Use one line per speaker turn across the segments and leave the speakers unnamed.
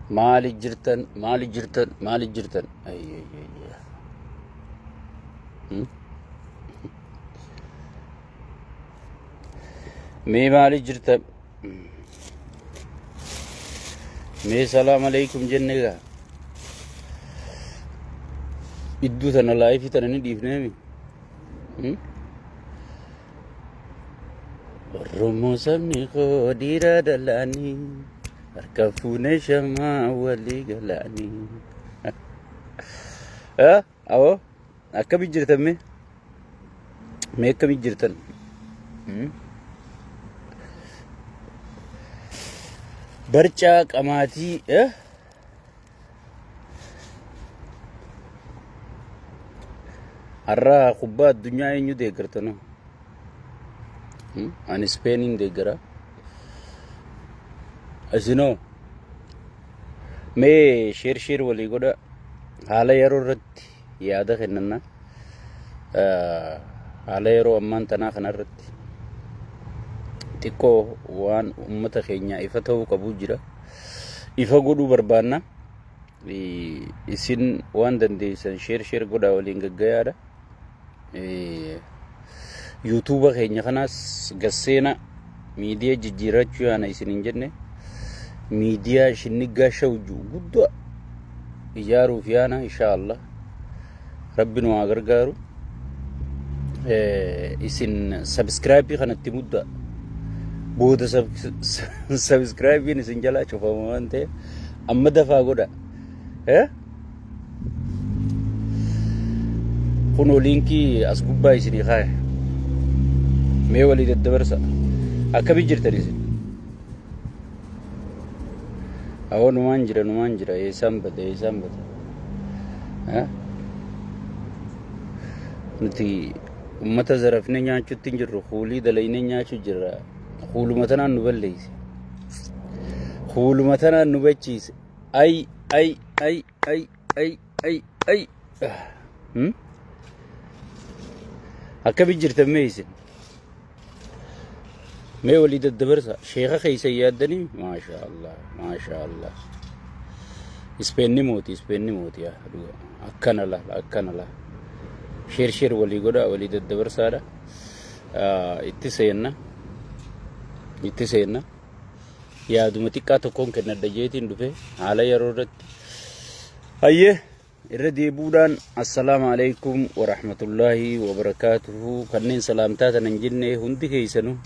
Maali jirtan maali jirtan maali jirtan. Ayyayyayya. Hmm? Mee maali jirtan. Mee salaam alaikum jenne gaa. Idduu tana laayifii tana ni dhiifneemi. Hmm? Oromoo sabni koo dhiira dalaanii harka fuunee shamaa walii galaanii. Ah, Awoo akkamii jirtan mee? Mee akkamii jirtan? Hmm? Barcaa qamaatii eh? Har'a kubbaa addunyaa eenyu deeggartanu? Ani Ispeeniin deeggara. Isinoo mee sheer sheer walii godha haala yeroo irratti yaada kennanna. Haala yeroo ammaan tanaa kanarratti xiqqoo waan uummata keenyaa ifa ta'uu qabu jira. ifa godhuu barbaanna. Isin waan dandeessan sheer sheer godhaa waliin gaggayaadha. Yuutuuba keenya kanaas gasseena miidiyaa jijjiirrachuu yaana isin hin jenne miidiyaa shinniggaa shawju guddaa ijaaruuf yaana inshaallah. rabbi nu haa gargaaru Eh, isin sabiskiraabii kanatti mudda booda sabiskiraabiin isin jalaa cufama waan ta'eef amma dafaa godha Eh? kunoo liinkii as gubbaa isinii kaa'e mee walii daddabarsa akkamii jirtan isin Awoo numaan jira numaan jira eessaan bada eessaan bada. Eh? Nuti uummata zarafne nyaachuutti hin jirru kuulii dalaynee nyaachuu jirra. Kuuluma tanaan nu balleeyse. Kuuluma tanaan nu bachiise. Ay ay ay ay ay ay ay hmm? akkami jirtan mee isin mee walii daddabarsa sheeka keessan yaaddanii maashaa allah maashaa allah ispeenni mooti ispeenni mooti yaa dhuga akkana la akkana la sheer sheer walii godhaa walii daddabarsaadha Ah, itti seenna itti seenna yaaduma xiqqaa tokkoon kennadha jeetiin dhufe haala yeroo irratti hayyee irra deebuudhaan assalaamu alaikum warahmatullaahi wabarakaatuhu kanneen salaamtaa tana hin jenne hundi keeysanu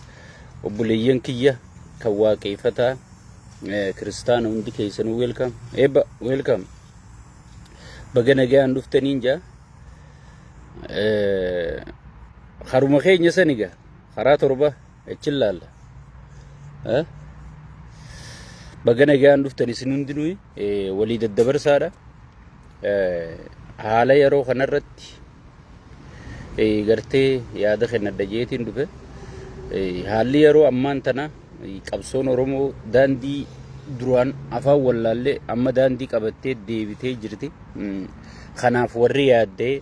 obboleeyyan kiyya kan waaqeeyfataa eh, kiristaana hundi keeysanu weelkam eebba weelkam baga nagayaan dhuftaniin jaa Eh, haruma keenya saniga karaa torba Achi ilaalla. Eh? Baga nagaan dhuftan isin hundinuu eh, walii daddabarsaadha. Eh, Haala yeroo kanarratti eh, gartee yaada kennadha jeetiin dhufe. Eh, Haalli yeroo ammaan tana eh, qabsoon Oromoo daandii duraan afaan wallaallee amma daandii qabattee deebitee jirti. Mm. Kanaaf warri yaaddee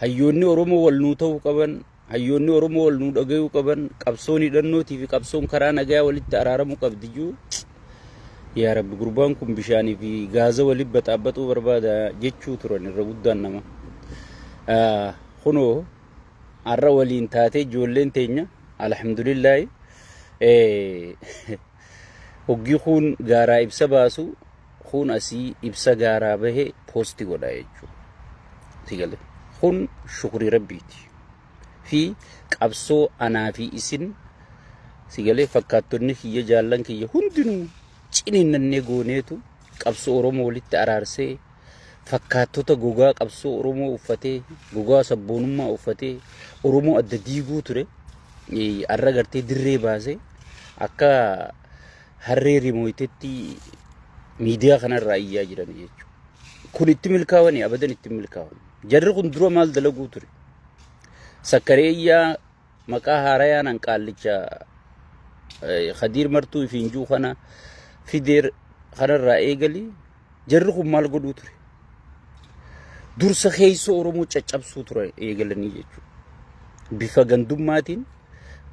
Hayyoonni Oromoo wal nuu ta'uu qaban, hayyoonni Oromoo wal nuu dhagayuu qaban, qabsoon hidhannootii fi qabsoon karaa nagayaa walitti araaramuu qabdi juu. Yaa Rabbi gurbaan kun bishaanii fi gaaza waliin baxaabaxuu barbaada jechuu turan irra guddaan nama. Kunoo har'a waliin taatee ijoolleen teenya alhamdulillaahi Hoggii kuun gaaraa ibsa baasu kuun asii ibsa gaaraa bahe poosti godha jechuu si gale kun shukrii rabbiiti fi qabsoo anaa fi isin si galee fakkaattonni kiyya jaallan kiyya hundinuu ciniinnannee gooneetu qabsoo oromoo walitti araarsee fakkaattota gogaa qabsoo Oromoo uffatee, gogaa sabboonummaa uffatee Oromoo adda diiguu ture har'a gartee dirree baasee akka harree rimooytetti miidiyaa kanarraa iyyaa jiran jechuudha. Kun itti milkaawanii abadan itti milkaawan. Jarri kun dura maal dalaguu ture? Sakkaree iyyaa Maqaa haarayaan an qaallicha eh, Khadiir Martuu ifiin jiru kana fideer kanarraa eegali jarri kun maal godhuu ture? Dursa keessa Oromoo caccabsuu ture eegalanii jechuudha. Bifa gandummaatiin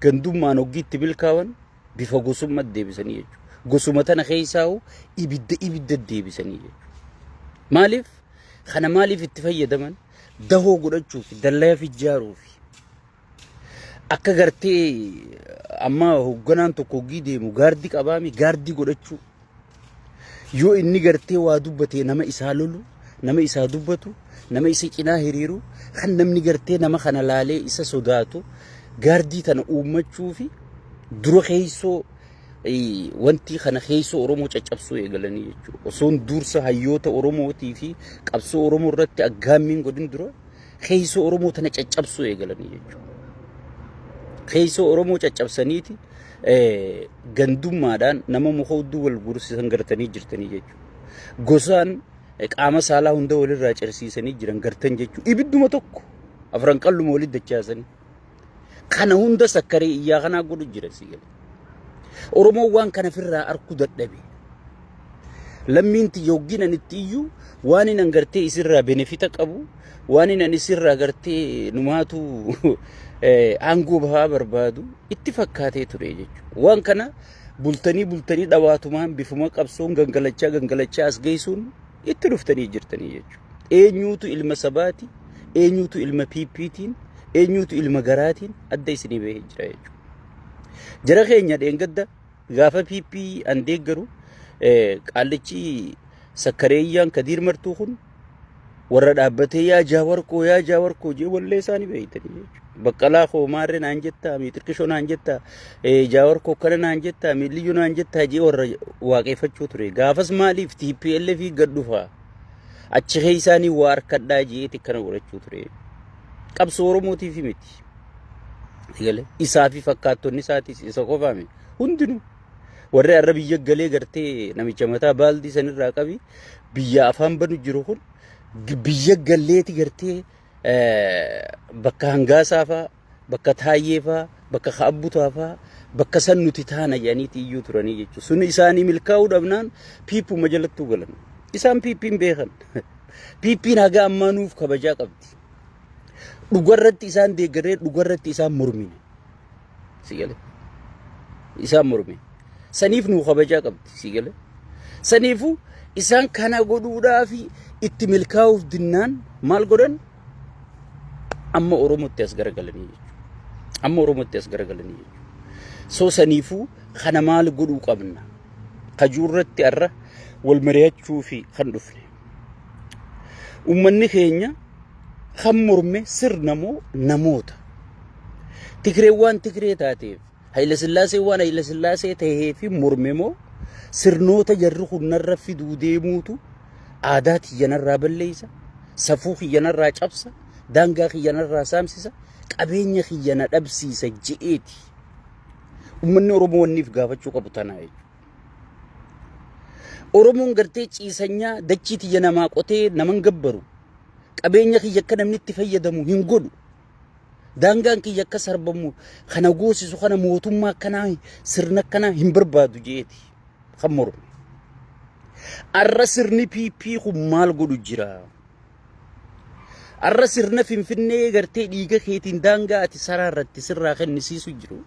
gandummaan hoggiitti milkaawan bifa gosummaa deebisanii jechuudha. Gosuma tana keessaa hoo ibidda ibidda deebisanii jechuudha. Maaliif? Kana maaliif itti fayyadaman? dahoo godhachuufi dallayaaf ijaaruufi akka gartee amma hoogganaan tokko hoggii deemu gaardii qabaami gaardii godhachuu yoo inni gartee waa dubbatee nama isaa lolu nama isaa dubbatu nama isa cinaa hiriiru kan namni gartee nama kana laalee isa sodaatu gaardii tana uummachuufi dura keessoo Wanti kana keessa Oromoo caccabsuu eegalanii jechuudha. Osoon dursa hayyoota Oromootii fi qabsoo Oromoo irratti aggaammiin godhin dura keessa Oromoo tana caccabsuu eegalanii jechuudha. Keessa Oromoo caccabsaniiti gandummaadhaan nama muka hudduu wal gursisan gartanii jirtanii jechuudha. Gosaan qaama saalaa hunda walirraa cirsiisanii jiran gartan jechuudha. Ibidduma tokko afran qalluma walitti dachaasanii. Kana hunda sakkaree iyyaa kanaa godhu jira si'e. Oromoon waan kana firraa arkuu dadhabe. Lammiin tiyya hoggiin ani itti iyyuu waan hin angartee isirraa benefita qabu waan hin ani isirraa gartee numaatu eh, aangoo bahaa barbaadu itti fakkaatee ture jechuudha. Waan kana bultanii bultanii dhawaatumaan bifuma qabsoon gangalachaa gangalachaa as geessuun itti dhuftanii jirtanii jechuudha. Eenyuutu ilma sabaati? eenyuutu ilma PPtiin eenyuutu ilma garaatiin adda isinii bahee jira jechuudha. Jara keenya dheengadda gaafa PP an deeggaru qaallichi sakkareeyyaan kadiir martuu kun warra dhaabbatee yaa jaawar koo yaa jaawar koo jee wallee isaanii beeytanii jechuudha. Baqqalaa koo maarree naan jettaa mii xiqqishoo naan jettaa jaawar koo kana naan jettaa mii liyyuu naan jettaa jee warra waaqeffachuu ture. Gaafas maaliif TPLF gad dhufaa? Achi keessaanii waa harkadhaa jeeti akkana godhachuu ture. Qabsoo Oromootiif miti. Galee isaa fi fakkaattonni isaatis isa qofaame hundinuu warri arra biyya galee gartee namicha mataa baaldii sanirraa qabi biyya afaan banu jiru kun biyya galleeti gartee bakka hangaasaa fa'aa bakka taayyee faa bakka kaabbutaa faa bakka san nuti taana jedhaniiti iyyuu turanii jechuudha. Sun isaanii milkaa'uu dhabnaan piippuma jalattuu galan. Isaan piippiin beekan. Piippiin haga ammaa nuuf kabajaa qabdi. Dhugarratti isaan deeggarree dhugarratti isaan mormine. Si galee? Isaan mormine. Saniif nuu kabajaa qabdi. Si galee? Saniifuu isaan kana godhuudhaa fi itti milkaa'uuf dinnaan maal godhan? Amma Oromootti as garagalanii jechuudha. Amma Oromootti as garagalanii jechuudha. Soo saniifuu kana maal godhuu qabna? Kajuurratti har'a wal mari'achuu fi kan dhufne. Uummanni keenya kan morme sirna moo namoota? Tigreen waan Tigree taateef Hayilasillaasee waan Hayilasillaasee tahee fi morme moo sirnoota jarri kun narra fiduu deemuutu aadaa tiyya narraa balleessa, safuu kiyya narraa cabsa, daangaa kiyya narraa saamsisa, qabeenya kiyya na dhabsiisa je'eeti. Uummanni Oromoo wanniif gaafachuu qabu tanaa jechuudha. Oromoon gartee ciisanyaa dachii tiyya namaa qotee naman gabbaru qabeenya kiyya akka namni itti fayyadamu hin godhu Daangaan kiyya akka sarbamu kana goosisu kana mootummaa akkanaa sirna akkanaa hin barbaadu jeeti kan mormu. Arra sirni PP kun maal godhu jira? Arra sirna Finfinnee gartee dhiiga keetiin daangaa ati saraa irratti sirraa kennisiisu jiru.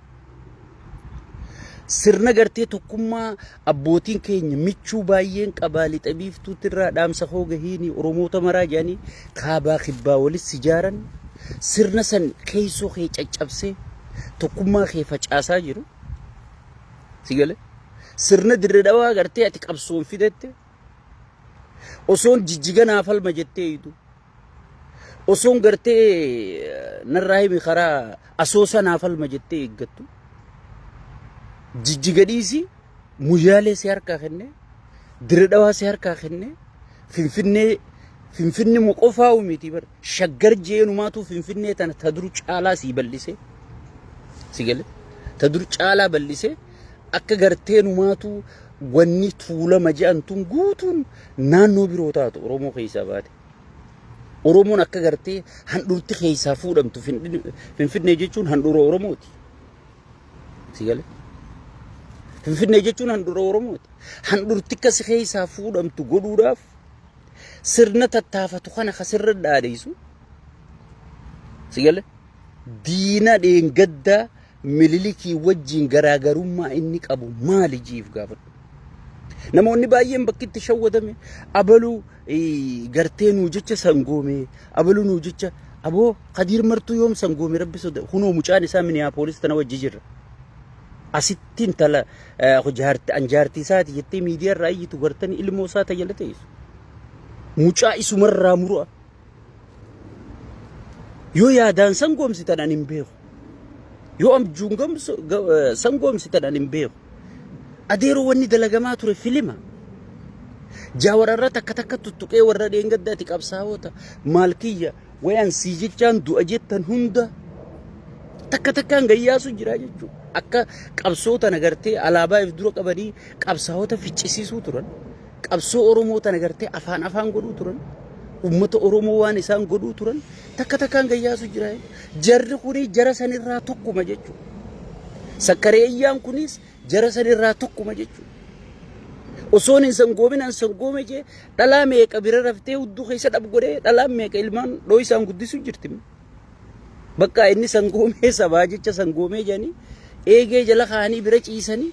Sirna gartee tokkummaa abbootiin keenya michuu baay'een qabaa lixa biiftuutti irraa dhaamsa koo gahiini Oromoota maraa jedhanii kaabaa kibbaa walis sijaaran sirna san keessoo kee caccabsee tokkummaa kee facaasaa jiru. Sigale sirna dirre dhawaa gartee ati qabsoon fidette osoon jijjiganaa falma jettee idu. osoon gartee narraa himi karaa asoosa naaf alma jettee eeggattu jijjiga dhiisii muyyaalee si harkaa kenne diridhawaa si harkaa kenne finfinnee finfinni mu qofaa uumiti bar shaggar jeenumaatu finfinnee tana ta dur caalaa sii bal'ise si gale ta dur caalaa bal'ise akka gartee numaatu wanni tuulama je'an tun guutuun naannoo biroo taatu oromoo keessaa baate Oromoon akka gartee handhuurti keessaa fuudhamtu Finfinnee jechuun handhuura Oromooti. Si galee? Finfinnee jechuun handhuura Oromooti. Handhuurti akkasi keessaa fuudhamtu godhuudhaaf sirna tattaafatu kana ka sirra dhaadheessu. Si galee? Diina dheengaddaa Mililikii wajjin garaagarummaa inni qabu maali jiif gaafadhu. Namoonni baay'een bakki itti shawwadame abaluu eh, gartee nuu jecha sangoome abaluu nuu jecha aboo kadiir martuu yoom sangoome rabbi soda kunoo mucaan isaa miniyaapolis tana wajji jirra. Asitti intala eh, jaarti an jaartii isaati jettee miidiyaa irraa iyyitu gartanii ilmoo isaa tajaajila teessu. Mucaa isumarraa muru'a Yoo yaadaan sangoomsitan ani hin beeku. Yoo abjuun gamsu- ga- eh, sangoomsitan ani hin beeku. Adeeroo wanni dalagamaa ture filima. Jaawar irra takka takka tuttuqee warra dheengadda ati qabsaa'oota maal kiyya wayaan sii jechaan du'a jettan hunda takka takkaan gayyaasu jira jechuudha. Akka qabsoota nagartee alaabaa if dura qabanii qabsaa'oota ficcisiisuu turan. Qabsoo Oromoo tana gartee afaan afaan godhuu turan. Uummata Oromoo waan isaan godhuu turan takka takkaan gayyaasu jira. Jarri kuni jara sanirraa tokkuma jechuudha. Sakkareeyyaan kunis jara sanirraa tokkuma jechuudha. Osoon hin sangoobin an sangoome jee dhalaa meeqa bira raftee hudduu keessa dhab godhee dhalaa meeqa ilmaan dhooysaan guddisu jirti. Bakka inni sangoomee sabaa jecha sangoomee jedhanii eegee jala kaanii bira ciisanii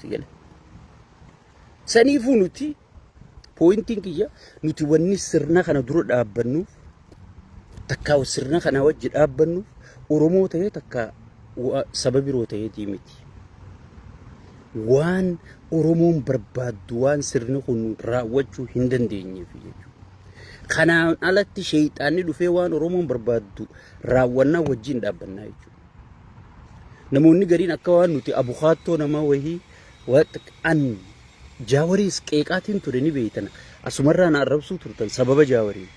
Si gale. Saniifuu nuti pooyintiin kiyya nuti wanni sirna kana dura dhaabbannuuf takkaa sirna kana wajji dhaabbannuuf Oromoo ta'ee takkaa wa- saba biroo ta'eetii miti. Waan Oromoon barbaaddu waan sirni kun raawwachuu hin dandeenyeef jechuudha. Kanaan alatti sheeyxaanni dhufee waan Oromoon barbaaddu raawwannaa wajjin dhaabbannaa jechuudha. Namoonni gariin akka waan nuti abukaattoo namaa wayii an jaawariis qeeqaatiin ture ni beeytan asumarraa na arrabsuu turtan sababa jaawarii.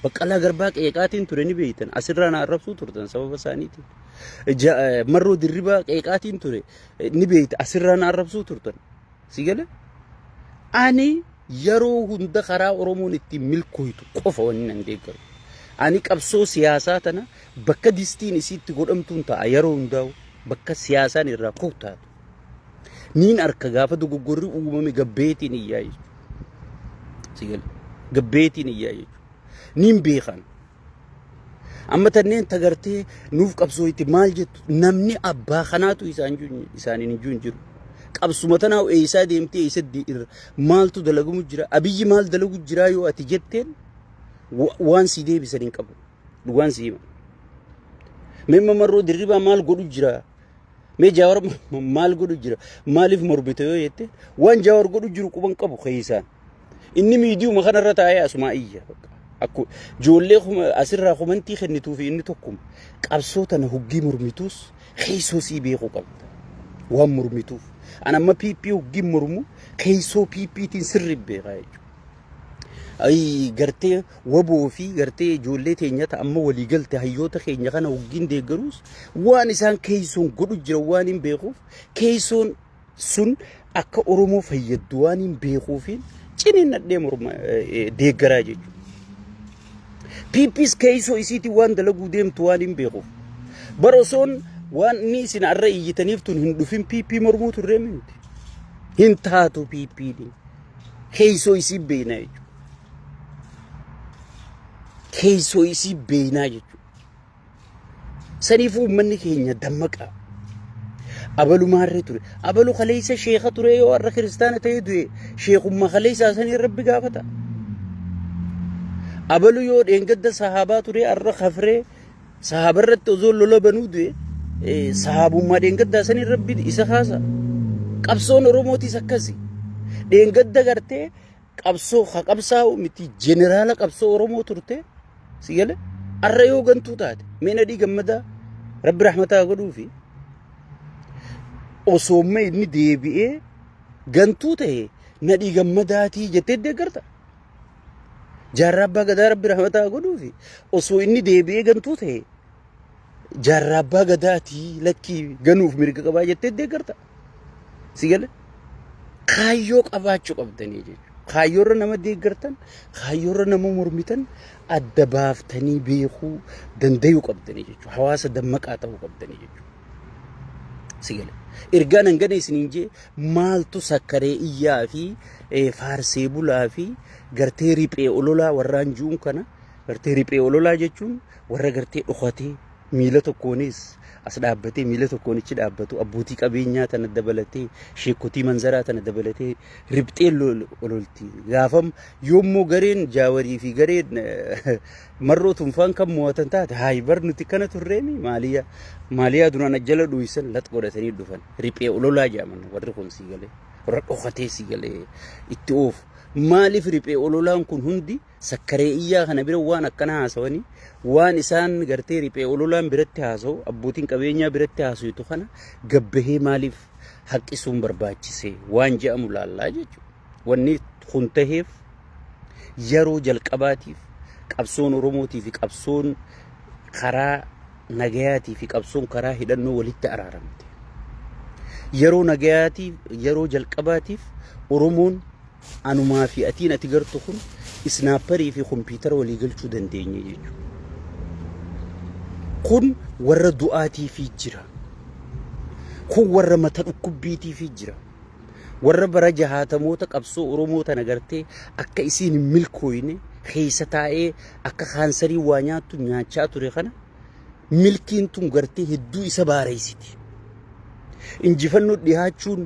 Baqqalaa garbaa qeeqaatiin ture ni beeytan asirraa na arrabsuu turtan sababa isaaniitiin. Marroo dirribaa qeeqaatiin ture ni beeyta asirraa na arrabsuu turtan. Si gale? Ani yeroo hunda karaa Oromoon ittiin milkooytu qofa wanni nan deeggaru. Ani qabsoo siyaasaa tana bakka distiin isiitti godhamtuun ta'a yeroo hundaa'u bakka siyaasaan irraa kuttaatu. Niin arka gaafa dogoggorri uumame gabbeetiin iyyaa jechuudha. Si gale? Gabbeetiin iyyaa jechuudha. Niin beekan. Amma tanneen tagartee nuuf qabsoo itti maal jettu namni abbaa kanaatu isaaniin hin jiru jiru. Qabsuma tanaa eessaa deemtee eessa irra maaltu dalagamu jira abiyyi maal dalagu jiraa yoo ati jetteen waan si deebisan hin qabu dhugaan si hima. Memma marroo dirribaa maal godhu jira mee jaawar maal godhu jira maaliif morbite yoo jette waan jaawar godhu jiru quban qabu keessaan. Inni miidiyuma kanarra taa'ee asumaa iyya. Akku ijoollee kuma asirraa komantii kennituu fi inni tokkuma. Qabsoo tana huggii mormituus keessoo sii beekuu qabda. Waan mormituuf. An amma PP huggii mormu keessoo PPtiin sirri beekaa jechuudha. Ayii gartee waboo fi gartee ijoollee teenya ta'a amma walii galte hayyoota keenya kana huggiin deeggaruus waan isaan keessoon godhu jira waan hin beekuuf keessoon sun akka Oromoo fayyaddu waan hin beekuufiin ciniinnadhee morma deeggaraa jechuudha. PPs keessoo isiitiin waan dalaguu deemtu waan hin beekuuf. Bara osoon waan inni isin arra iyyitaniif tun hin dhufin PP mormuu turree miti. Hin taatu PP ni. Keessoo isii beeknaa jechuudha. Keessoo isii beeknaa jechuudha. Saniifuu uummanni keenya dammaqaa. abalumaarree ture abalu kaleessa sheeka ture yoo har'a kiristaana ta'ee du'e sheekummaa kaleessaa sanii rabbi gaafata abalu yoo dheengadda sahaabaa ture har'a kafree sahaaba irratti osoo lola banuu du'e eh, sahaabummaa dheengaddaa sanii rabbi isa kaasa qabsoon oromootis akkasi dheengadda gartee qabsoo ha qabsaa'u miti jeneraala qabsoo Oromoo turte si gale arra yoo gantuu taate mee nadhii gammadaa rabbi rahmataa godhuu fi osoo mee inni deebi'ee gantuu ta'e nadhii gammadaatii jettee deeggarta. Jaarraa abbaa gadaa rabbi rahmataa godhuu fi osoo inni deebi'ee gantuu ta'e jaarraa abbaa gadaatii lakkii ganuuf mirga qabaa jettee deeggarta. Si gale kaayyoo qabaachuu qabdanii jechuudha. Kaayyoorra nama deeggartan, kaayyoorra nama mormitan adda baaftanii beekuu dandayuu qabdanii jechuudha. Hawaasa dammaqaa ta'uu qabdanii jechuudha. Si gale. Ergaan hangana isiniin jee maaltu sakkaree iyyaa fi eh, faarsee bulaa fi gartee riphee ololaa warraan ju'uun kana gartee riphee ololaa jechuun warra gartee dhokatee miila tokkoonis as dhaabbatee miila tokkoonichi dhaabbatu abbootii qabeenyaa tana dabalatee sheekotii manzaraa tana dabalatee ribxee ololti. Gaafam yoommoo gareen jaawarii fi gareen marroo tunfaan kan mo'atan taate haayi bar nuti kana turreemi maaliyaa maaliyaa duraan ajjala dhuyisan lat godhatanii dhufan riphee ololaa jaaman warri kun sii galee warra dhokatee sii galee itti oofu maaliif riphee ololaan kun hundi Sakkaree iyyaa kana bira waan akkana haasawanii waan isaan gartee riphee ololaan biratti haasawu abbootiin qabeenyaa biratti haasawutu kana gabbahee maaliif haqqisuun barbaachise waan je'amu laallaa jechuudha. Wanni kun taheef yeroo jalqabaatiif qabsoon Oromootii fi qabsoon karaa nagayaatii fi qabsoon karaa hidhannoo walitti araaramte. Yeroo nagayaatiif yeroo jalqabaatiif Oromoon Anumaa fi atiin ati gartu kun isnaapparii fi kompiitara walii galchuu dandeenye jechuudha. Kun warra du'aatiifii jira. Kun warra mata dhukkubbiitiifii jira. Warra bara jahaatamoota qabsoo Oromoo tana gartee akka isiin hin milkooyne keessa taa'ee akka kaansarii waa nyaattu nyaachaa ture kana milkiin tun gartee hedduu isa baareessiti. Injifannoo dhihaachuun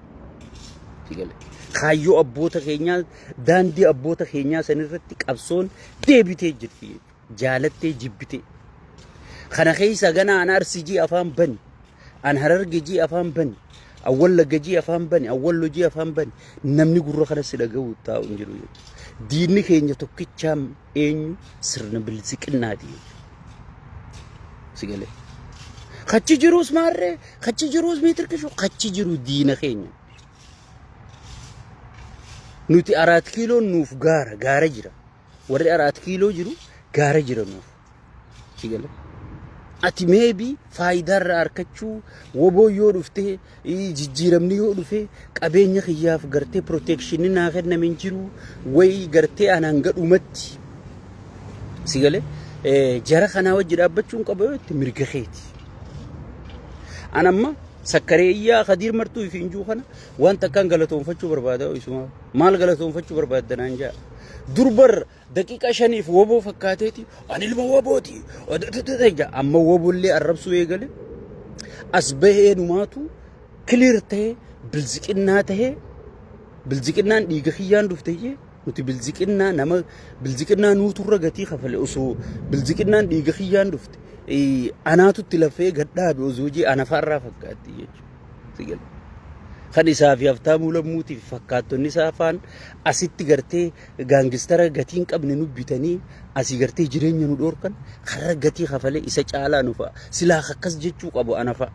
Kaayyoo abboota keenyaa daandii abboota keenyaa sanirratti qabsoon deebitee jirti. Jaalattee jibbitee. Kana keessa ganaa an arsii jii afaan bani. An hararge jii afaan bani. An wallagga jii afaan bani. An wallo jii afaan bani. Namni gurra kana si dhaga'u taa'u hin jiru. Diinni keenya tokkichaan eenyu sirna bilisiqinnaati si galee kachi jiruus maarree kachi jiruus miitirkishu kachi jiru diina keenya nuti araat kiiloon nuuf gaara gaara jira warri araat kiiloo jiru gaara jira nuuf Si gale? Ati meebi faayidaa irraa arkachuu woboo yoo dhuftee ii, jijjiiramni yoo dhufee qabeenya kiyyaaf gartee proteekshinni naa kenname hin jiru wayi gartee anaan gadhumatti si gale Eh, jara kanaa wajji dhaabbachuu hin qaba yoo itti mirga keeti. An amma sakkaree iyyaa kadiir martuu ifi injuu kana waan takkaan galatoonfachuu barbaada isuma maal galatoonfachuu barbaadda naan jaa durbar Daqiiqaa shaniif woboo fakkaateeti ani ilma wobooti jedha amma wobollee arrabsuu eegale as bahee numaatu kiliir ta'ee bilziqinnaa ta'ee bilziqinnaan dhiiga kiyyaan dhufte jee nuti bilziqinnaa nama bilziqinnaa nuuturra gatii kafale osoo bilziqinnaan dhiiga kiyyaan dhufte eh, anaatutti lafee gadhaabe osoo jee anafaarraa fakkaatti jechuudha. Kan isaa fi haftaamuu lammuutii fi fakkaattonni isaa afaan asitti gartee gaangistara gatii hin qabne nu bitanii asii gartee jireenya nu dhoorkan karra gatii kafalee isa caalaa nu fa'a. Silaa akkas jechuu qabu ana fa'a.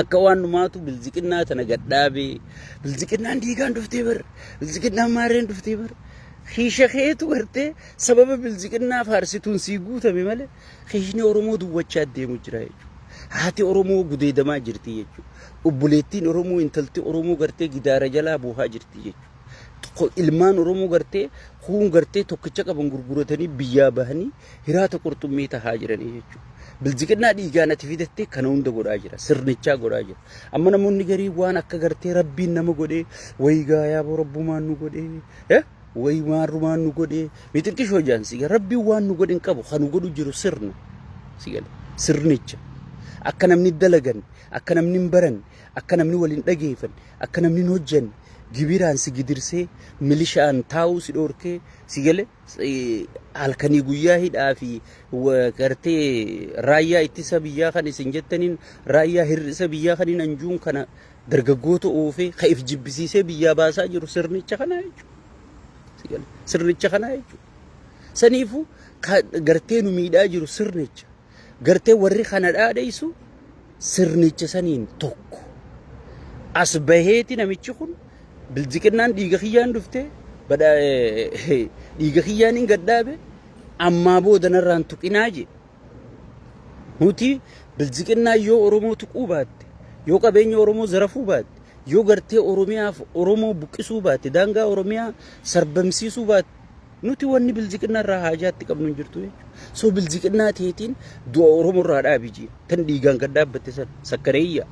Akka waan numaatu bilziqinnaa tana gadhaabee bilziqinnaan diigaan dhuftee bar bilziqinnaan maarreen dhuftee bar kiisha keetu gartee sababa bilziqinnaa faarsituun sii guutame malee kiishni Oromoo duwwachaa deemu jira jechuudha. Haati Oromoo gudeedamaa jirti jechuudha. Obboleettiin Oromoo intalti Oromoo gartee gidaara jalaa buuhaa jirti jechuudha. ilmaan Oromoo gartee kuun gartee tokkicha qaban gurguratanii biyyaa bahanii hiraata qurxummii tahaa jiranii jechuudha. Bilziqinnaa dhiigaan ati fidattee kana hunda godhaa jira. Sirnichaa godhaa jira. Amma namoonni garii waan akka gartee rabbiin nama godhee wayii gaayaa boo rabbumaan nu godhee wayii maarrumaan nu godhee mixiqqishoo jaan siga rabbiin waan nu godhin qabu kan nu godhu jiru sirna sigale sirnicha akka namni dalagan akka namni hin baran akka namni waliin dhageefan akka namni hin hojjanne Gibiraan si gidirsee, milishaan taa'uu si dhoorkee, si gale halkanii guyyaa hidhaa fi gartee raayyaa ittisa biyyaa kan isin jettaniin raayyaa hir'isa biyyaa kan hin anjuun kana dargaggoota oofee ka if jibbisiisee biyyaa baasaa jiru sirnicha kanaa jechuudha. Sirnicha kanaa jechuudha. Saniifuu gartee nu miidhaa jiru sirnicha. Gartee warri kana dhaadheessu sirnicha saniin tokko. As baheeti namichi kun biljiqinnaan dhiiga kiyyaan dhufte dhiiga kiyyaan hin gaddaabe ammaa booda narraan tuqinaa jee. Nuti biljiqinnaa yoo Oromoo tuquu baatte yoo qabeenya Oromoo zarafuu baatte yoo gartee Oromiyaaf Oromoo buqqisuu baatte daangaa Oromiyaa sarbamsiisuu baatte Nuti wanni bilziqinna irraa haajaa itti qabnu hin jirtu jechuudha. So bilziqinnaa teetiin du'a Oromoo irraa dhaabi jiin. Tan dhiigaan kan dhaabbatte san sakkareeyya.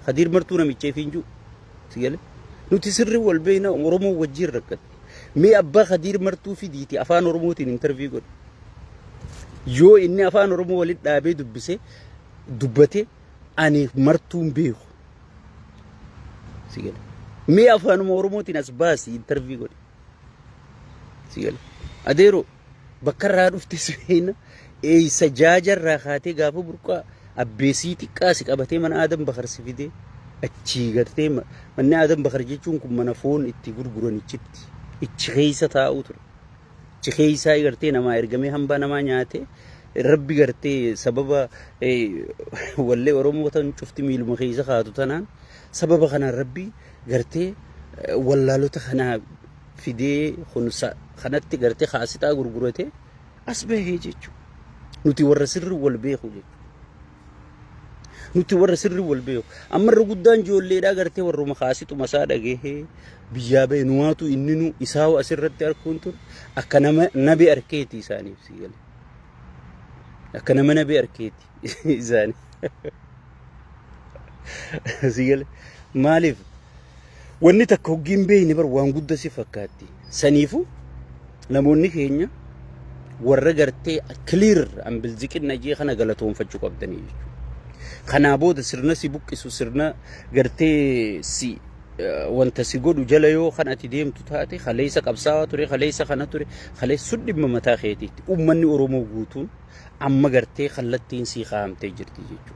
Kadiir martuu namichee fiinjuu. Sigale. Nuti sirri wal beeyna Oromoo wajjiin rakkatti. Mee abbaa Kadiir martuu fidiiti afaan Oromootiin intarvii godhe. Yoo inni afaan Oromoo walitti dhaabee dubbise dubbate ani martuun beeku. Sigale. Mee afaanuma Oromootiin as baasi intarvii godhe. Sigal. Adeeroo bakka irraa dhufte seenna eeysa jaaja irraa kaatee gaafa burqaa abbeesii xiqqaa si qabatee mana aadan bakar si fidee achii gartee ma- manni aadan bakar jechuun kun mana foon itti gurguran ichitti ichi keeysa taa'uu ture. Achi keeysaa gartee namaa ergamee hambaa namaa nyaatee rabbi gartee sababa eh, wallee oromoo tan cufti miiluma keeysa kaatu tanaan sababa kanaan rabbi gartee wallaalota kana fidee kun sa- kanatti gartee kaasitaa gurgurate as bahee jechuudha. Nuti warra sirri wal beeku jechuudha. Nuti warra sirri wal beeku. Amma irra guddaan ijoolleedhaa gartee warruma kaasituma isaa dhagahee biyyaa bahe nuwaatu inni nu isaa asirratti arkuun ture akka nama nabe arkeeti isaaniif sii gale. Akka nama nabe arkeeti. isaani si gale maaliif wanni takka hoggii hin beeyne bar waan gudda si fakkaatti saniifu namoonni keenya warra gartee clear an bilziqinna jee kana galatoonfachuu qabdanii jechuudha. Kanaa booda sirna si buqqisu sirna gartee si eh, wanta si godhu jala yoo kan ati deemtu taate kaleessa qabsaawaa ture kaleessa kana ture kaleessa sun dhimma mataa keetiitti uummanni Oromoo guutuun Amma gartee kallattiin sii kaa'amtee jirti jechuudha.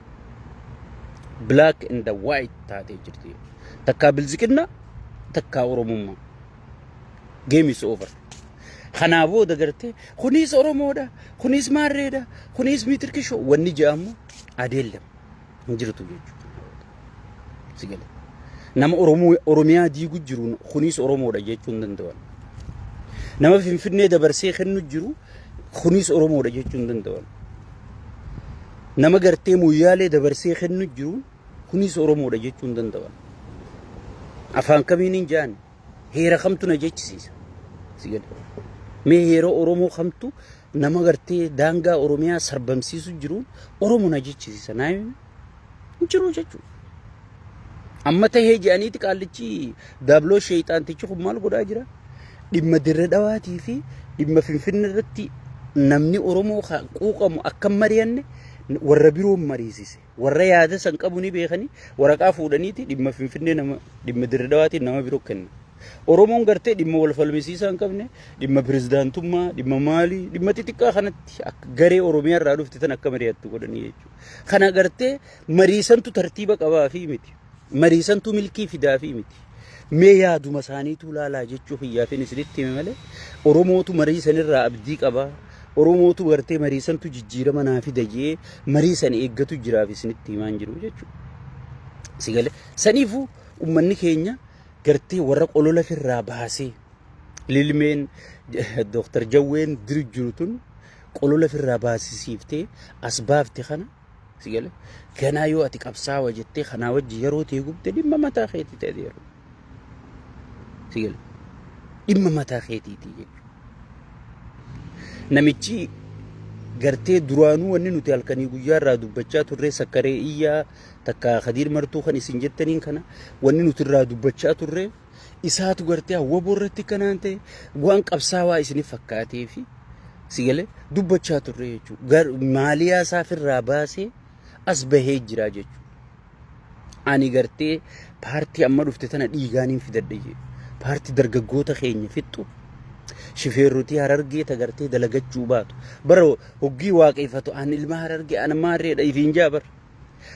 Black and the white taatee jirti jechuudha. Takkaa bilziqinna takkaa oromummaa. Game is over. Kanaa booda gartee kunis oromoodha, kunis maarreedha, kunis mitirkishoo wanni jedhamu adeellama. hin jirtu jechuudha. Si gale. Nama Oromoo Oromiyaa diigu jiruun kunis Oromoodha jechuu hin danda'an. Nama Finfinnee dabarsee kennu jiru kunis Oromoodha jechuu hin danda'an. Nama gartee Moyyaalee dabarsee kennu jiru kunis Oromoodha jechuu hin danda'an. Afaan kamiin hin ja'an heera kamtu na jechisiisa. Si gale. Mee heera Oromoo kamtu nama gartee daangaa Oromiyaa sarbamsiisu jiruun Oromo na jechisiisa naa hin jiru jechuudha. Amma tahee jedhaniiti qaallichi daabloo sheeyxaantichi kun maal godhaa jira? Dhimma dirre dhawaatii fi dhimma finfinne irratti namni Oromoo quuqamu akka mari'anne warra biroon mariisise. Warra yaada san qabu ni beekanii waraqaa fuudhaniiti dhimma Finfinnee nama dhimma Dirridawaatiin nama biroo kenna. Oromoon gartee dhimma wal falmisiisaa hin qabne dhimma pirezidaantummaa dhimma maalii dhimma xixiqqaa kanatti akka garee Oromiyaa irraa dhufte tan akka mari'attu godhanii jechuudha. Kana gartee mariisantu tartiiba qabaa fi miti. Marii santu milkii fidaafii miti. Mee yaaduma isaaniituu laalaa jechuu kiyyaafin isinitti hime malee Oromootu marii sanirraa abdii qaba. Oromootu gartee marii santu jijjiirama naa fida jee marii san eeggatu jiraaf isinitti himaan jiru jechuudha. Sigale saniifuu ummanni keenya gartee warra qolola firraa baasee lilmeen Dooktar Jawween diri jiru tun qolola firraa baasisiiftee as baafte kana Si gale? Ganaa yoo ati qabsaawa jettee kanaa wajji yeroo tee gubde dhimma mataa keetii ta'e yeroo. Si gale? Dhimma mataa keetiitii jechuudha. Namichi gartee duraanuu wanni nuti halkanii guyyaa irraa dubbachaa turree sakkaree iyyaa takka kadiir martuu kan isin jettaniin kana wanni nuti irraa dubbachaa turree isaatu gartee waboo irratti kanaan ta'e waan qabsaawaa isinif fakkaatee fi si galee dubbachaa turre jechuudha. Maaliyaa isaaf irraa baasee as bahee jira jechuudha. Ani gartee paartii amma dhufte tana dhiigaaniin fidadhe jee paartii dargaggoota keenya fixxu shifeerrotii harargee tagartee dalagachuu baatu bara hoggii waaqeffatu an ilma harargee an maarreedha ifiin jaabar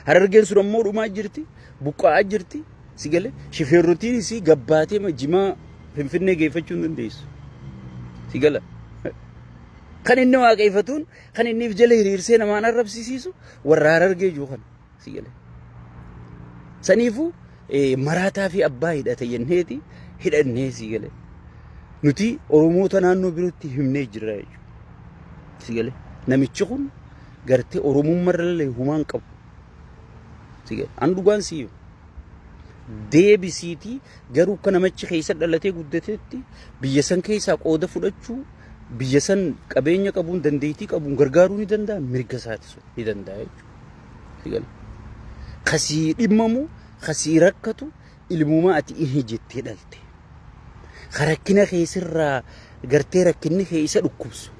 Harargeen sun ammoo dhumaa jirti, buqqa'aa jirti, si galee shifeerrotiin isii gabbaatee ma jimaa finfinnee geeffachuu hin dandeessu. Si gala. Kan inni waaqeffatuun kan inni if jala hiriirsee namaan arrabsisiisu warra harargee jiru kana. Si gala. Saniifuu eh, maraataa fi abbaa hidhate jenneeti hidhannee si gale. Nuti Oromoota naannoo birootti himnee jirra jechuudha. Si gale. Namichi kun gartee oromummaa irrallee humaa hin qabu. Si gale. An dhugaan si himu. Deebisiitii garuu akka namichi keessa dhalatee guddatetti biyya san keessaa qooda fudhachuu biyya san qabeenya qabuun dandeettii qabuun gargaaruu ni danda'a mirga isaati sun ni danda'a jechuudha. Si gale. Kasii dhimmamu kasii rakkatu ilmumaa ati ihe jettee dhalte ka rakkina kee sirraa gartee rakkinni kee isa dhukkubsu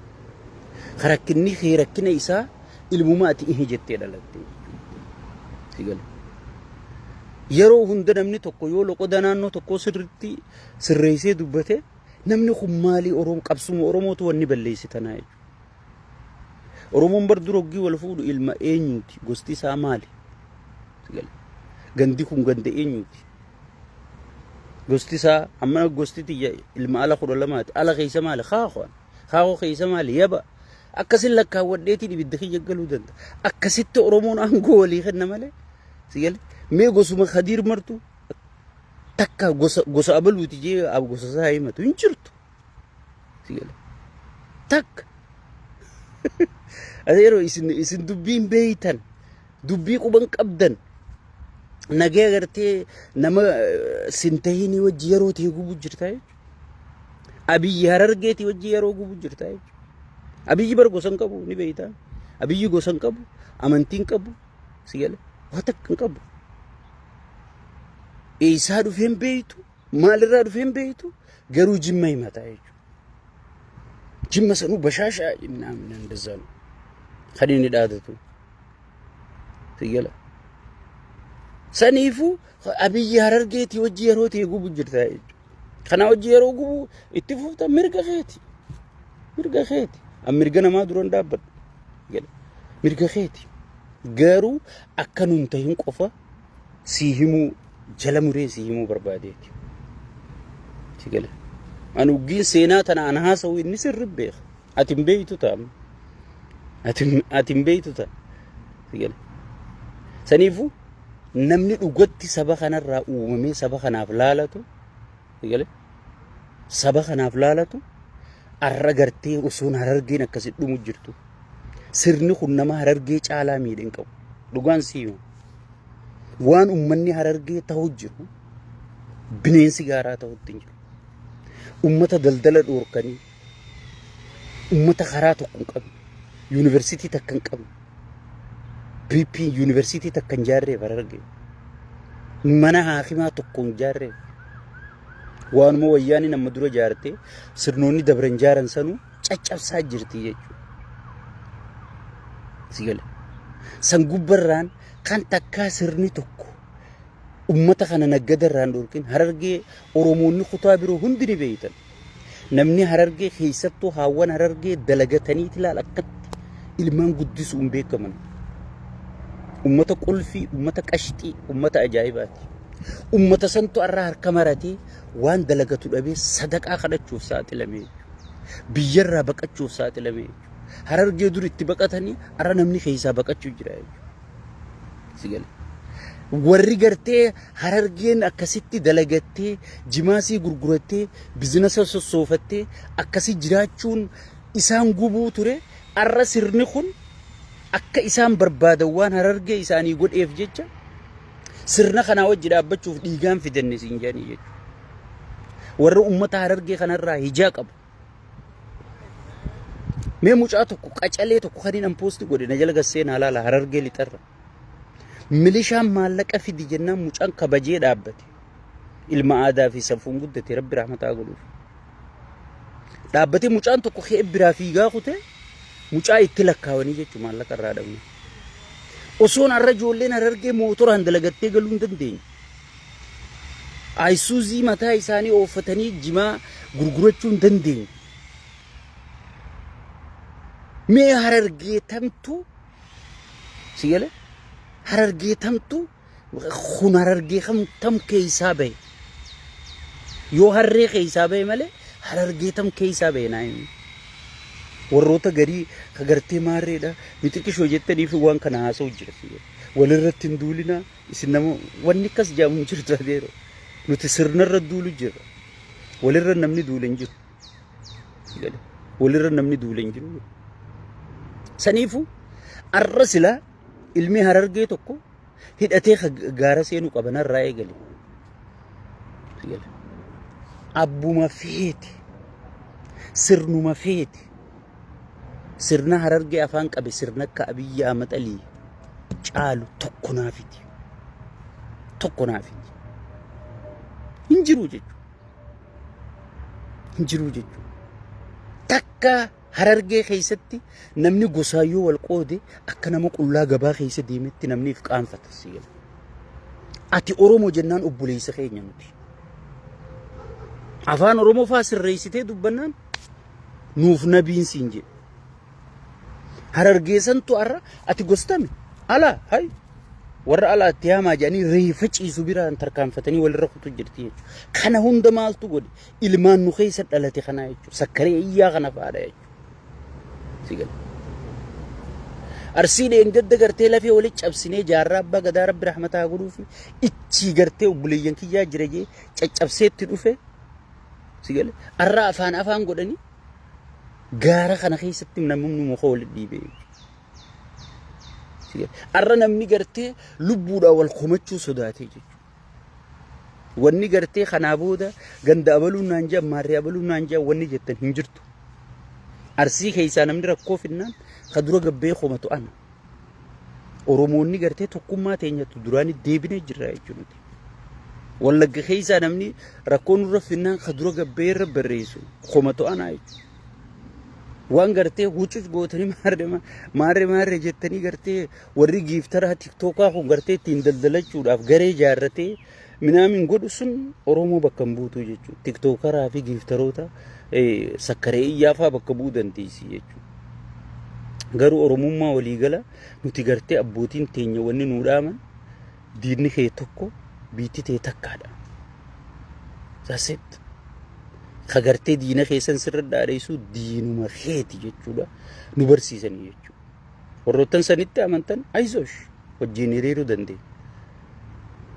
ka rakkinni kee rakkina isaa ilmumaa ati ihe jettee dhalatte si gale yeroo hunda namni tokko yoo loqoda naannoo tokkoo sirriitti sirreessee dubbate namni kun maalii Oromoo qabsuma Oromootu wanni balleessi tanaa jechuudha. Oromoon bar dura oggii wal fuudhu ilma eenyuuti gosti isaa maali? Gandi kun ganda eenyuuti? Gosti isaa amma gosti tiyya ilma ala kudha lamaati. Ala keessa maali? Kaakoo. Kaakoo keessa maali? Yaba. Akkasin lakkaawwadheetiin ibidda kiyya galuu danda'a. Akkasitti Oromoon aangoo walii kenna malee. Si gale? Mee gosuma Kadiir martu takka gosa gosa abaluuti jee ab gosa isaa himatu hin jirtu. Si gale? Takka. Ati yeroo isin isin dubbiin beeytan dubbii quba hin qabdan nagee agartee nama eh, sin tahinii wajji yeroo ta'e gubuu jirta jechuudha. Abiyyi harargeetii wajji yeroo gubuu jirta jechuudha. Abiyyi bar gosa hin qabu ni beektaa. Abiyyi gosa hin qabu, amantii hin qabu, si gale waa takka hin qabu. Eessaa dhufee hin beektu, Maalirraa dhufee hin beektu garuu jimma himataa jechuudha. Jimma sanuu bashaashaa jennaan dandeessaa kan inni dhaadatu. Siggala. Saniifuu abiyyi harargeetii hojii yeroo ta'e gubu jirta jechuudha. Kana hojii yeroo gubu itti fufta mirga keeti. Mirga keeti. An mirga namaa duran dhaabbadha. Mirga keeti. Garuu akkanumta hin qofa. sii himuu jala muree sii himuu barbaadeeti. Si gale. An uggiin seenaa tana an haasa'u inni sirri beeka. Ati hin beektu ta'a. Ati hin- ati hin beektu ta'a. Si gale. Saniifuu namni dhugatti saba kanarraa uumamee saba kanaaf laalatu Egalee saba kanaaf laalatu arra gartee osoon harargeen akkasi dhumu jirtu. Sirni kun nama harargee caalaa miidhe hin qabu. Dhugaan siima. Waan ummanni harargee ta'u jiru bineensi gaaraa ta'utti hin jiru. Ummata daldala dhoorkanii Uummata karaa tokko hin qabne, yuunivarsiitii takka hin qabne, PP yuunivarsiitii takka hin jaarreef hararge. Mana haakimaa tokko hin jaarreef. Waanuma wayyaanii nama dura jaartee sirnoonni dabran jaaran sanuu caccabsaa jirti jechuudha. Si gale. San gubbarraan kan takkaa sirni tokko uummata kana naggadarraan dhorkin harargee Oromoonni kutaa biroo hundi ni beeytan. Namni Harargee keessattuu haawwan Harargee dalagataniiti laal akkatti ilmaan guddisuun beekaman. Ummata qulfii, ummata qashxii, ummata ajaa'ibaati. Ummata santu har'a harka maratee waan dalagatu dhabee sadaqaa kadhachuuf saaxilamee biyyarraa baqachuuf saaxilamee harargee dur itti baqatanii har'a namni keessaa baqachuu jira jechuudha. si gale warri gartee harargeen akkasitti dalagattee jimaasii gurgurattee bizinasa sossoofattee akkasii jiraachuun isaan gubuu ture arra sirni kun akka isaan barbaadan waan harargee isaanii godheef jecha sirna kanaa wajji dhaabbachuuf dhiigaan fidanne siin jedhanii jechuudha. Warra uummata harargee kanarraa hijaa qabu. Mee mucaa tokko qacalee tokko kan hin poosti godhe na jala gassee naa laala harargee lixarra. Milishaan maallaqa fidi jennaan mucaan kabajee dhaabbate. Ilma aadaa fi safuun guddate rabbi rahmataa godhuuf. Dhaabbatee mucaan tokko kee biraa fiigaa kutee mucaa itti lakkaawanii jechuun maallaqa irraa dhabne. Osoon har'a ijoolleen harargee mootoraan dalagattee galuu hin dandeenye. Ayisuuzii mataa isaanii ooffatanii jimaa gurgurachuu hin dandeenye. Mee harargee tamtu si gale harargee tamtu kun harargee kam tam keessaa bahe yoo harree keessaa bahe malee harargee tam keessaa bahe naa himi. warroota garii ka gartee maarreedha mixiqishoo jettaniif waan kana haasa'u jira walirratti hin duulinaa Isin nama wanni akkas jedhamu hin jiru Zaageero. Nuti sirnarra duulu jirra. Walirra namni duule hin jiru. Gale. Walirra namni duule hin jiru. Saniifu arra silaa ilmi harargee tokko hidhatee ka gaara seenuu qaba narraa eegale. Gale. Abbuma feete. Sirnuma feete. Sirna Harargee afaan qabe sirna akka Abiyyi Ahmad Alii caalu tokko naaf hin jiru. Tokko naaf hin jiru. Hin jiru jechuudha. Hin jiru jechuudha. Takka Harargee keessatti namni gosaan yoo wal qoode akka nama qullaa gabaa keessa deemetti namni if qaanfata si jedha. Ati Oromoo jennaan obboleessa keenya nuti. Afaan Oromoo faa sirreessitee dubbannaan nuuf nabiin siin jedhe. Harargeessantu har'a ati gostami alaa hay warra alaa itti haamaa jedhanii reefa ciisu biraan tarkaanfatanii walirra kutu jirti jechuudha. Kana hunda maaltu godhe ilmaan nu keessa dhalate kanaa jechuudha. Sakkaree iyyaa kana fa'aadha jechuudha. Arsii dheengadda gartee lafee walitti cabsinee jaarraa abbaa gadaa rabbi rahmataa godhuufi ichii gartee obboleeyyan kiyyaa jira jee caccabseetti dhufe Si gale? Arra afaan afaan godhanii gaara kana keessatti namni muka wal dhiibee jechuudha. Si gale? Arra namni gartee lubbuudhaan wal komachuu sodaatee jechuudha. Wanni gartee kanaa booda ganda abaluun naan jaa maarree abaluun naan jaa wanni jettan hin jirtu. Arsii keessaa namni rakkoo finnaan ka dura gabbee komatu ana. Oromoonni gartee tokkummaa teenyatu duraanii deebinee jirra jechuudha. Wallagga keessaa namni rakkoo nurra finnaan ka dura gabbee irra barreessu koma to'anaa jechuudha. Waan gartee huccus gootanii maarree ma- maarree maarree jettanii gartee warri giiftaraa tiktookaa kun gartee ittiin daldalachuudhaaf garee ijaarratee minaamin godhu sun Oromoo bakka hin buutu jechuudha. Tiktookaraa fi giiftaroota eh, sakkaree iyyaafaa bakka bu'uu dandeessi jechuudha. Garuu Oromummaa waliigala nuti gartee abbootiin teenya wanni nuu dhaaman diinni kee tokko biitti tee takkaadha. Sasit kagartee diina keessan sirra dhaadheessuu diinuma keeti jechuudha nu barsiisanii jechuudha. Warroottan sanitti amantan ayizosh wajjin hiriiruu dandeenya.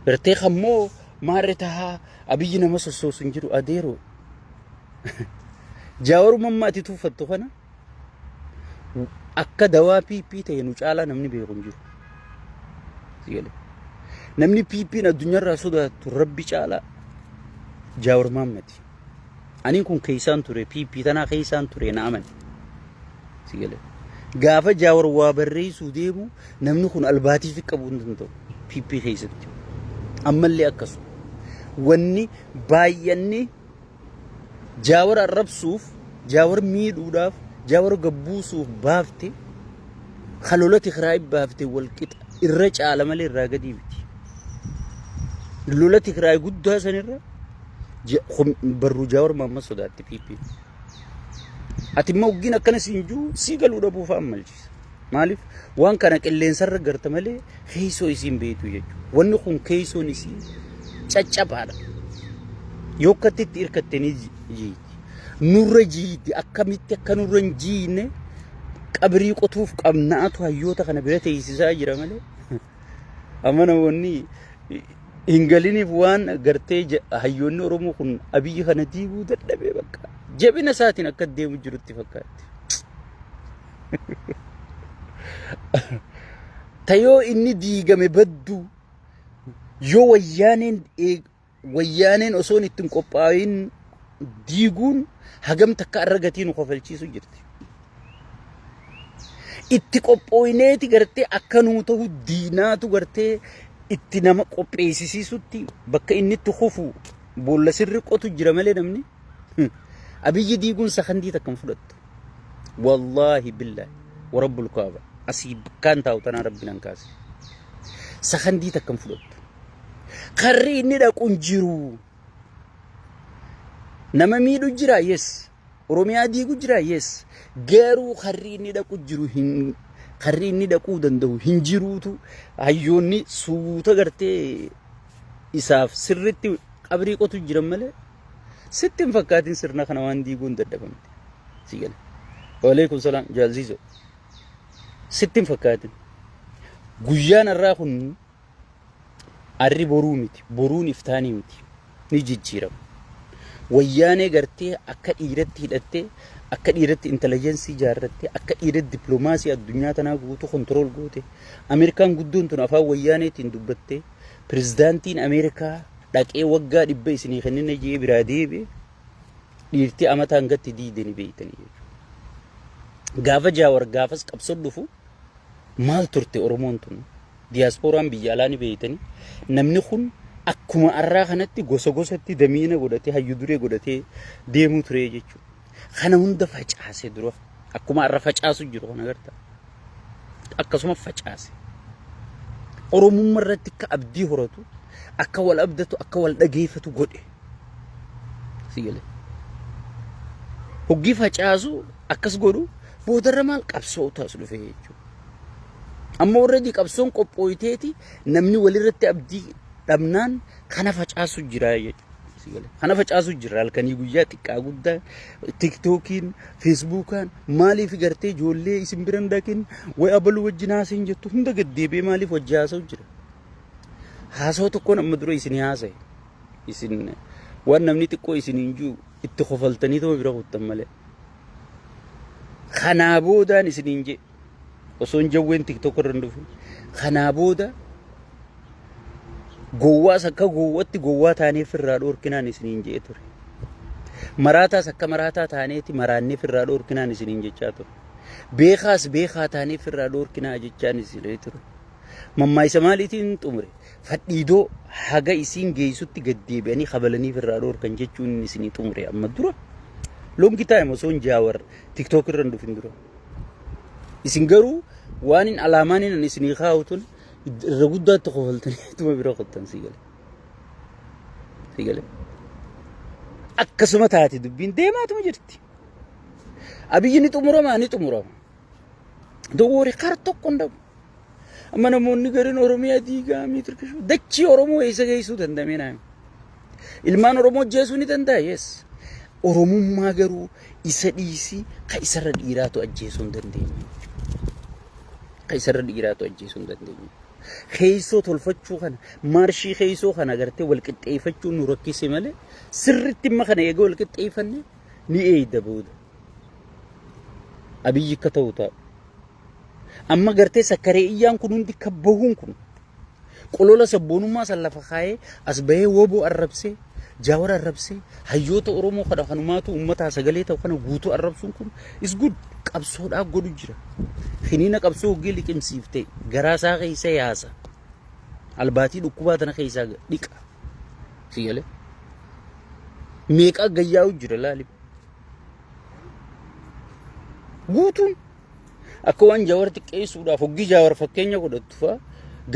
Gartee kan moo maarre tahaa abiyyi nama sossoosu hin jiru adeeroo. Jaawar mammaati tuufattu kana Akka dawaa PP ta'e nu caalaa namni beeku hin jiru. Si galee. Namni PP'n addunyaarraa sodaatu rabbi caalaa Jaawar Maammadi. Ani kun keessaan ture PP tanaa keessaan ture na amani. Si galee. Gaafa Jaawar waa barreessuu deemu namni kun albaatiif qabuu hin danda'u PP keessatti. Ammallee akkasuma. Wanni baay'anni jaawar arrabsuuf jaawar miidhuudhaaf jaawar gabbuusuuf baafte kalolati kiraa baafte walqixa irra caala malee irraa gadii miti lolati kiraa guddaa sanirra barruu jaawar maamma sodaatti piippiin ati immoo oggiin akkana siin jiru sii galuu dhabuuf ammalchi Oromooti. Maaliif waan kana qilleensarra garta malee keessoo isiin beektu jechuudha. Wanni kun keessoon isii caccabaadha. Yoo akkatti itti hirkatte ni jiiti. Nurra jiiti akkamitti akka nurra hin jiine qabrii qotuuf qabnaatu hayyoota kana bira teessisaa jira malee. Amma namoonni hin galiniif waan gartee ja- hayyoonni Oromoo kun abiyyi kana diiguu dadhabee bakka jabina isaatiin akka deemu jirutti fakkaatti. Tayoo inni diigame badduu yoo wayyaaneen eeg- Wayyaaneen osoon itti hin qophaa'in diiguun hagam takka irra gatii nu kofalchiisu jirti. Itti qophooyneeti gartee akka nuu ta'u diinaatu gartee itti nama qopheessisiisutti bakka inni itti kufu boolla sirri qotu jira malee namni. Abiyyi diiguun sakandii takka hin fudhattu. Wallaahi billaahi warabbul kaaba asii bakkaan taa'u tanaa rabbi nan kaase. Sakandii takka hin fudhattu. Karri inni dhaqu hin jiru. Nama miidhu jira yes. Oromiyaa diigu jira yes. Garuu karri inni dhaqu jiru hin karri inni dhaquu danda'u hin jiruutu hayyoonni suuta gartee isaaf sirritti qabrii qotu jiran malee Sitti hin fakkaatin sirna kana waan diiguun dadhabamte. Si gale. Waaleykum salaam jaalziizoo. Sitti hin fakkaatin. Guyyaan har'aa kun arri boruu miti. Boruun iftaanii miti. Ni jijjiirama. Wayyaanee gartee akka dhiiratti hidhattee akka dhiiratti intelligensii ijaarrattee akka dhiiratti dippiloomaasii addunyaa tanaa guutuu kontirool goote Ameerikaan guddoon tun afaan wayyaaneetiin dubbattee pirezidaantiin Ameerikaa dhaqee waggaa dhibba isinii kennina jee biraa deebi'e dhiirti amata hangatti diideni beeytanii jechuudha. Gaafa jaawar gaafas qabsoo dhufu maal turte Oromoon tun diyaaspooraan biyya alaa ni beeytanii namni kun akkuma arraa kanatti gosa gosatti damiina godhatee hayyu duree godhatee deemuu ture jechuudha. Kana hunda facaase dura. Akkuma arra facaasu jiru kana agarta. Akkasuma facaase. Oromumma irratti akka abdii horatu, akka wal abdatu, akka wal dhageeffatu godhe. Si galee. Hoggii facaasu akkas godhu boodarra maal qabsoo taas dhufe jechuudha. Amma warreedi qabsoon qophooyteeti namni walirratti abdii dhabnaan kana facaasu jira jechuudha. Kana facaasuu jirra halkanii guyyaa xiqqaa guddaa tiktookiin feesbuukaan maaliif gartee ijoollee isin biran dhaqin way abaluu wajjin haasa'in jettu hunda gad deebi'ee maaliif wajji haasa'u jira. Haasa'u tokkoon amma dura isin haasa'e isin waan namni xiqqoo isin hin jiru itti kofaltanii ta'uu bira kuttan malee. Kanaa boodaan isin hin jee. osoon jawween tiktok irra hin dhufin kanaa booda gowwaas akka gowwatti gowwaa taanee firraa dhoorkinaan isiniin je'ee ture. Maraataas akka maraataa taaneeti maraannee firraa dhoorkinaan isiniin jechaa ture. Beekaas beekaa taanee firraa dhoorkinaa jechaan isinii ture. Mammaayisa maaliitiin xumure? Fadhiidoo haga isiin geessutti gad deebi'anii kabalanii firraa dhoorkan jechuun isinii xumure amma dura. Longi taayim osoo hin jaawar tiktook irra hin dhufin dura. Isin garuu waanin alaamaanin ani isinii kaa'u tun irra guddaatti kofaltanii ittuma bira kottan sii gale. Sii gale. Akkasuma taate dubbiin deemaatuma jirti. Abiyyi ni xumurama ni xumurama. Dowwoori kar tokko hin dhabu. Amma namoonni gariin Oromiyaa diigaa miitirkish dachii Oromoo eessa geessuu danda'amee naami. Ilmaan Oromoo jeesuu ni danda'a yes. Oromummaa garuu isa dhiisii ka isarra dhiiraatu ajjeesuu hin dandeenye. Ka isarra dhiiraatu ajjeesuu hin dandeenye. Keessoo tolfachuu kana maarshii keessoo kana agartee wal qixxeeffachuu nu rakkise malee sirritti imma kana eegee wal qixxeeffanne ni eeyda booda. Abiyyi akka ta'u ta'a. Amma gartee sakkaree iyyaan kun hundi kan bahuun kun qolola sabboonummaa san lafa kaayee as bahee woboo arrabsee jaawar arrabsee hayyoota Oromoo kana kanumaatu uummataa sagalee ta'u kana guutuu arrabsuun kun is good qabsoodhaa godhu jira. Kiniina qabsoo hoggii liqimsiifte garaa isaa keessa yaasa. Albaatii dhukkubaa tana keessaa dhiqa. Si galee? Meeqaa gayyaa'u jira laali. Guutuun Akka waan jaawar xiqqeessuudhaaf hoggii jaawar fakkeenya godhattu fa'a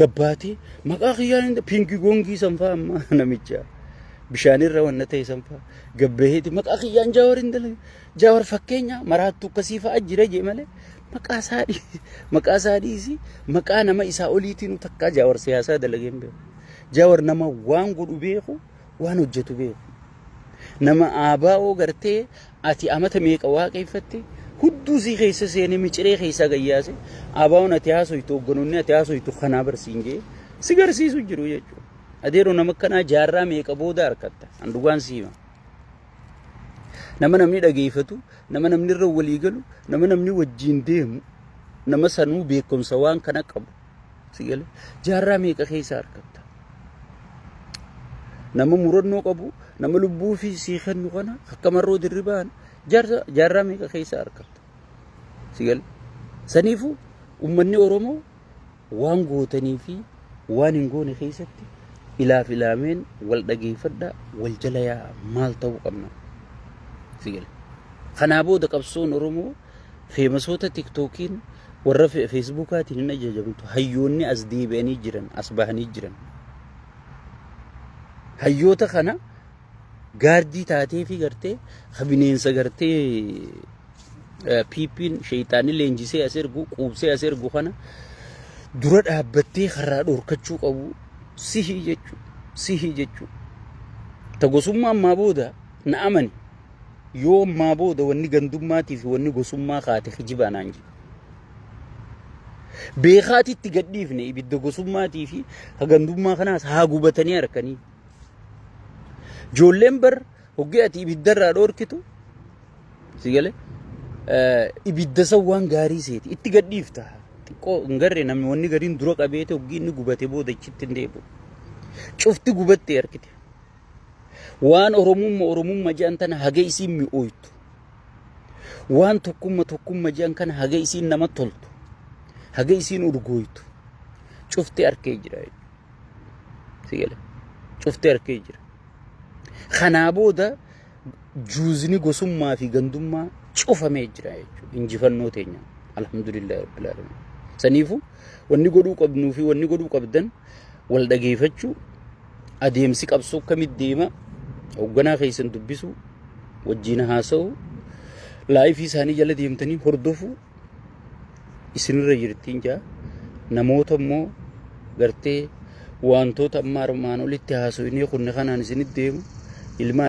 gabbaatee maqaa kiyyaa hin piinki goongii san fa'a amma namicha bishaanirra wanna ta'e san fa'a gabbaheeti maqaa kiyyaan jaawar hin dalage jaawar fakkeenya maraattu akkasii fa'a jira jee malee maqaa isaa dhii- maqaa isaa dhiisi maqaa nama isaa oliitiin takkaa jaawar siyaasaa dalagee hin beeku jaawar nama waan godhu beeku waan hojjetu beeku. Nama ABO gartee ati amata meeqa waaqeffatte hudduu sii keessa seenee miciree keessaa gayyaase ABOn ati haasoytu hogganoonni ati haasoytu kanaa barsiin jee si garsiisu jiru jechuudha. Adeeroo nama akkanaa jaarraa meeqa booda harkatta an dhugaan si hima. Nama namni dhageeffatu, nama namni irra walii galu, nama namni wajjin deemu, nama sanuu beekumsa waan kana qabu. Si gale? Jaarraa meeqa keessa argamta? Nama murannoo qabu, nama lubbuu fi sii kennu kana akka marroo dirribaan jaarsa jaarraa meeqa keessa argamta? Si gale? Saniifuu uummanni Oromoo waan gootanii fi waan hin goone keessatti ilaaf ilaameen wal dhageeffadhaa wal jala yaa'a maal ta'uu qabna? Si gale? Kanaa booda qabsoon Oromoo Feemasoota tiktookiin warra feesbuukaatiin hin ajajamtu. Hayyoonni as deebi'anii jiran as bahanii jiran. Hayyoota kana gaardii taatee fi gartee ka bineensa gartee piippiin sheeyxaanni leenjisee as ergu quubsee as ergu kana dura dhaabbattee karraa dhorkachuu qabu sihii jechuu sihii jechuu ta gosummaa ammaa booda na amani Yoo ammaa booda wanni gandummaatii fi wanni gosummaa kaate kijibaa naan jedhe. Beekaati itti gadhiifne ibidda gosummaatii fi ka gandummaa kanaas haa gubatanii harkanii. Joolleen bar hoggee ati ibiddarraa dhoorkitu si galee ibidda san waan gaarii seeti itti gadhiifta. Xiqqoo hin garre namni wanni gariin dura qabeete hoggii inni gubate booda achitti hin deebi'u. Cufti gubattee harkite. Waan Oromumma Oromumma jedhan tana haga isiin mi'ooytu. Waan tokkumma tokkumma jedhan kana haga isiin nama toltu. Haga isiin urgooytu. Cufti arkee jira. Sigale. Cufti arkee jira. Kanaa booda juuzni gosummaa fi gandummaa cufamee jira jechuudha. Injifannoo teenya. Alhamdulillah Rabbil Alamin. Saniifu wanni godhuu qabnuu fi wanni godhuu qabdan wal dhageeffachuu adeemsi qabsoo akkamitti deema hoogganaa keessan dubbisu wajjin haasa'u laayifii isaanii jala deemtanii hordofu isinirra jirtiin jaa namoota immoo gartee wantoota amma armaan olitti haasofnee kunne kanaan isinitti deemu ilmaan